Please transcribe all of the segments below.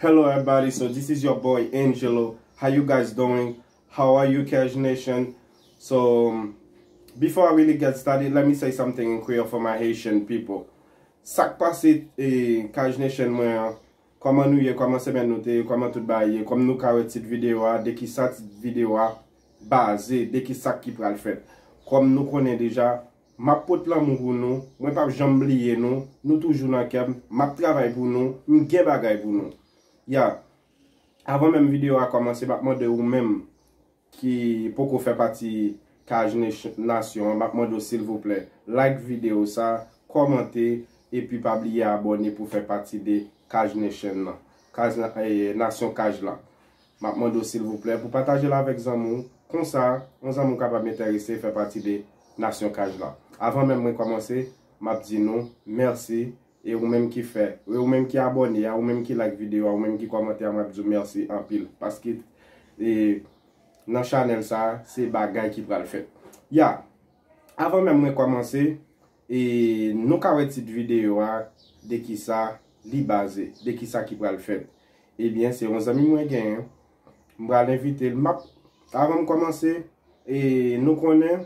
Hello everybody so this is your boy Angelo how you guys doing how are you cash nation so um, before I really get started let me say something in Creole for my Haitian people sak pase eh, cash nation mwen an koman nou ye koman semen nou te koman tout ba ye kom nou ka wè tit video a de ki sa tit video a baze de ki sak ki pral fèt. Kòm nou konnen deja, map pot lanmou pou nou, mwen pap janm bliye nou, nou toujou nan kèm, map travay pou nou, m gen bagay pou nou. Ya! Avan menm video a kòmanse map mande ou menm ki poko fè pati kaj nasyon an map mande w silvouplè like video sa, kòmante epi pa bliye abòne pou fè pati de kaj nation nan, nasyon kaj la. Map mande w silvouplè pou pataje l avèk zanmi w, konsa yon zanmi w kapab entèrese fè pati de nasyon kaj la. Avan menm mwen kòmanse, map di nou mèsi e ou menm ki fè, e ou menm ki abòne a, ou menm ki like videyo a, ou menm ki kòmante a map di w mèsi anpil paske e nan chanèl sa se bagay ki pral fèt. Ya! Avan menm mwen kòmanse, E nou ka wè tit videyo a, de ki sa li baze, de ki sa ki pral fèt. Ebyen, se yon zanmi mwen genyen, m pral envite l, m ap, avan m kòmanse, e nou konnen,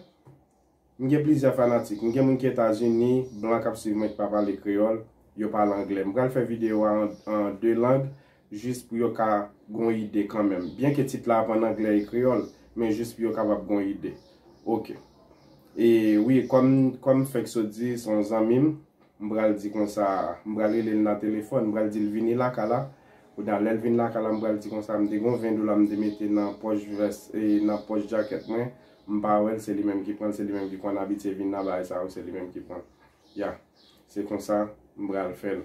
m gen plizyè fanatik, m gen moun ki Etazini, blan k ap swiv mwen ki pa pale kreyòl, yo pale angle. M pral fè videyo a an 2 lang, Jis pou yo ka gon ide kanmenm. Byen ke tit la ap an anglè e kreyòl, men jis pou yo kapab gon ide. Ok. E wi, kòm, kòm m fèk sot di, se yon zanmi m, m pral di konsa, m pral rele l nan telefòn, m pral di l vini lakay la. Kounye-a, lè l vin lakay la, m pral di konsa, m te gon 20 dola m te mete nan pòch vès, e nan pòch jakèt mwen, m pa wè l, se li menm ki pran l, se li menm ki konn abitye vin nan bagay sa yo, se li menm ki pran l. Ya. Se konsa, m pral fè l.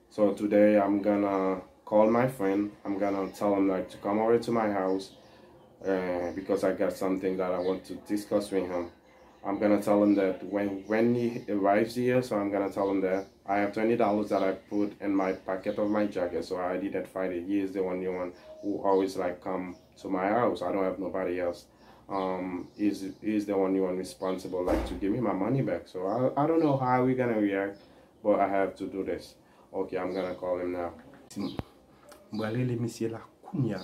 So today I'm gonna call my friend I'm gonna tell him like to come over to my house because I got something that I want to discuss with him I'm gonna tell him that when he arrives here so I'm gonna tell him that I have twenty dollars that I put in my pocket of my jacket so I didn't find it he is the only one who always like come to my house I don't have nobody else um he is the only one responsible like to give me my money back so I don't know how he gonna react Bon I have to do this ok I'm gonna call him now. M pral rele misye la kounya.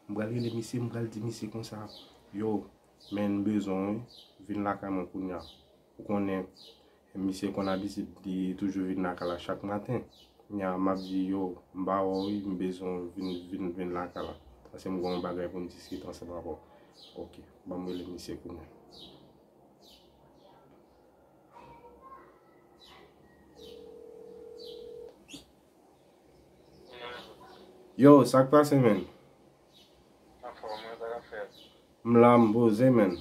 M pral rele misye m pral di misye konsa yo men m bezwen w wi vin lakay mwen kounya ou konnen misye konn abitid li toujou vin lakay la chak maten kounya m ap di yo m pa wè w wi m bezwen w vin vin lakay la paske m gen yon bagay pou m diskite ansanm avè w ok ban m rele misye kounya. Yow sak pase menn? M la m poze menn.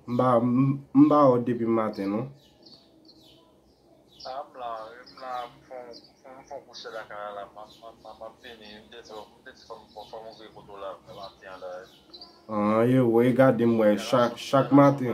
M ba ou depi m maten non. An e wè e gade m wè chak maten.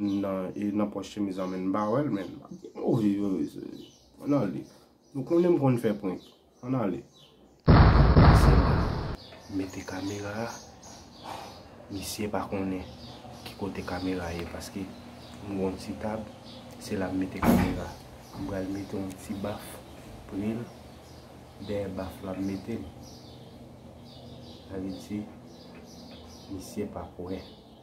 Nan e nan pòch chemiz lan men m pa wèl menm. Move yo mesye. An ale. Nou konnen m konn fè prank. An ale. Pase la. Mete kamera a. Misye pa konnen ki kote kamera ye paske m gen yon ti tab se la m mete kamera. M pral mete yon ti baf pre l. Dèyè baf la m mete l. Sa vle di misye pap wè.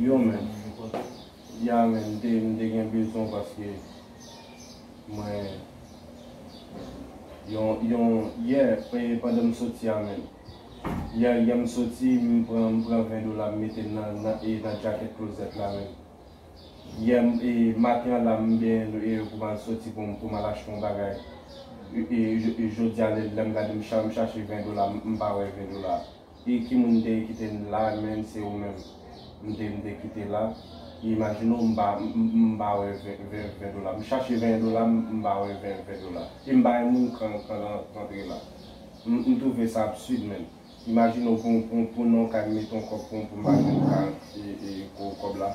Yo menm, ya menm, m te m te gen bezwen paske mwen yon yon yè e pandan m soti a menm. Yè yè m soti m pran m pran 20 dola m mete nan nan e nan djakèt klozèt la menm. Yè m e maten an la m benyen m e pou m al soti pou m pou m al achte yon bagay e e e jodi a lè m gade m cha m chache 20 dola m pa wè 20 dola a. Ii ki moun te kite m la menm se ou menm m te m te kite la Ii imajine w m pa m pa wè ven dola m chache ven dola m m pa wè ven dola e m bay moun kan kan lan rantre la m m twouve sa absid menm imajine w pou pou non kay m mete on kòb pou m m pa jwenn ka e e kòb la.